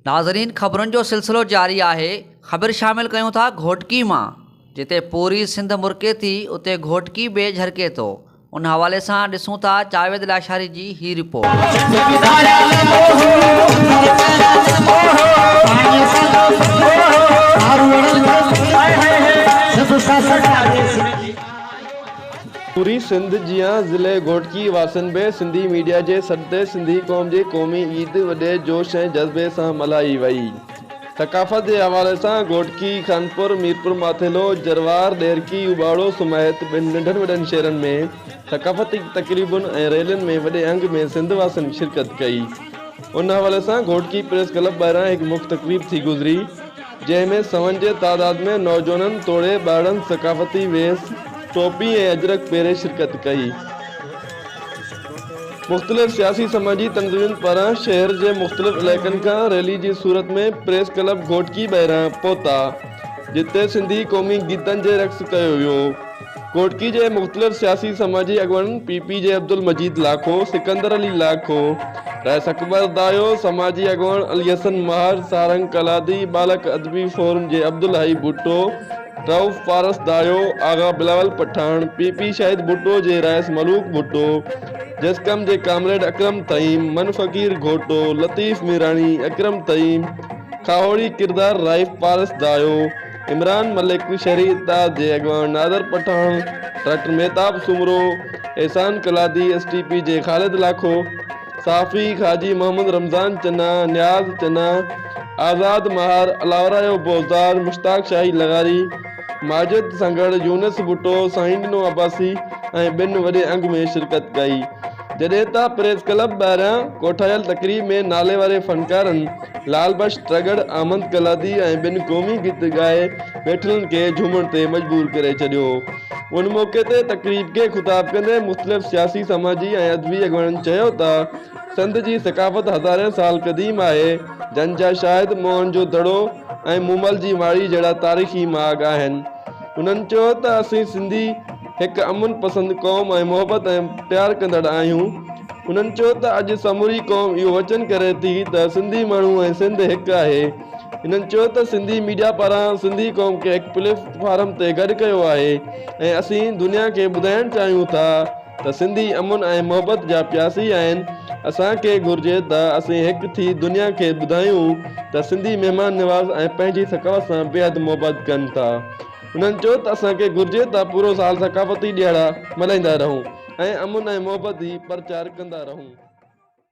ناظرين خبرن جو سلسلو جاري آهي خبر شامل ڪيون ٿا گهوٽڪي مان جتي پوري سنڌ مرڪي ٿي اتي گهوٽڪي به جهرڪي ٿو ان حوالي سان ڏسون ٿا جاويد لاشاري جي هي رپورٽ پوري سنڌ جيان ضلعي گهوٽڪي واسين به سنڌي ميڊيا جي سڏ تي سنڌي قوم جي قومي عيد وڏي جوش ۽ جذبي سان ملهائي وئي. ثقافت جي حوالي سان گهوٽڪي، خانپور، ميرپور ماٿيلو، جروار، ڏيرڪي، اوٻاڙو سميت ٻن ننڍن وڏن شهرن ۾ ثقافتي تقريبن ۽ ريلين ۾ وڏي انگ ۾ سنڌ واسين شرڪت ڪئي. ان حوالي سان گهوٽڪي پريس ڪلب ٻاهران هڪ مک تقريب ٿي گذري. جنهن ۾ سون جي تعداد ۾ نوجوانن توڙي ٻارڙن ثقافتي ويس، ٽوپي ۽ اجرڪ پهري شرڪت ڪئي. مختلف سياسي سماجي تنظيمن پاران شهر جي مختلف علائقن کان ريلي جي صورت ۾ پريس ڪلب گهوٽڪي ٻاهران پهتا جتي سنڌي قومي گيتن جي رقص ڪيو ويو. گهوٽڪي جي مختلف سياسي سماجي اڳواڻن پي پي جي عبدالمجيد لاکو، سڪندر علي لاکو، رئيس اڪبر دايو، سماجي اڳواڻ علي حسن مهر، سارنگ ڪلادي، ٻالڪ ادبي فورم جي عبدالحئي ڀٽو، رئوف پارس دايو، آغا بلاول پٺاڻ، پي پي شاهد ڀٽو جي رئيس ملوڪ ڀٽو، جسقم جي ڪامريڊ اڪرم طعيم، من فقير گهوٽو، لطيف ميراڻي، اڪرم طعيم، کاهوڙي ڪردار رائف پارس دايو، عمران ملڪ، شھري اتحاد جي اڳواڻ Nadir Pathan, doctor Mehtab Soomro, Ehsan ڪلادي، S T P جي خالد لاکو، صحافي حاجي محمد رمضان چنا، نياز چنا، آزاد ماھر، الاورايو بوزدار، مشتاق شاھي لغاري، ماجد سنگھڙ، يونس ڀٽو، سائين ڏنو عباسي ۽ ٻين وڏي انگ ۾ شرڪت ڪئي. جڏهن ته پريس ڪلب ٻاهران ڪوٺايل تقريب ۾ ناليواري فنڪارن لال بخش ترڳڙ، احمد قلادي ۽ ٻن قومي گيت ڳائي ويٺلن کي جهومڻ تي مجبور ڪري ڇڏيو هو. ان موقعي تي تقريب کي خطاب ڪندي مختلف سياسي، سماجي ۽ ادبي اڳواڻن چيو ته سنڌ جي ثقافت هزارين سال قديم آهي، جنھن جا شاهد موهن جو دڙو ۽ مومل جي ماڙي جهڙا تاريخي ماڳ آهن. انهن چيو ته اسين سنڌي. هڪ امن پسند قوم ۽ محبت ۽ پيار ڪندڙ آهيون. انهن چيو ته اڄ سموري قوم اهو وچن ڪري ٿي ته سنڌي ماڻهو ۽ سنڌ هڪ آهي. انهن چيو ته سنڌي ميڊيا پاران سنڌي قوم کي هڪ پليف فارم تي گڏ ڪيو آهي ۽ اسين دنيا کي ٻڌائڻ چاهيون ٿا ته سنڌي امن ۽ محبت جا پياسي آهن اسان کي گهرجي ته اسين هڪ ٿي دنيا کي ٻڌايون ته سنڌي مهمان نواز ۽ پنهنجي ثقافت سان بيحد محبت ڪن ٿا. هنن چيو ته اسان کي گهرجي ته پورو سال ثقافتي ڏيهاڙا ملهائيندا رهون ۽ امن ۽ محبت جي پرچار ڪندا رهون.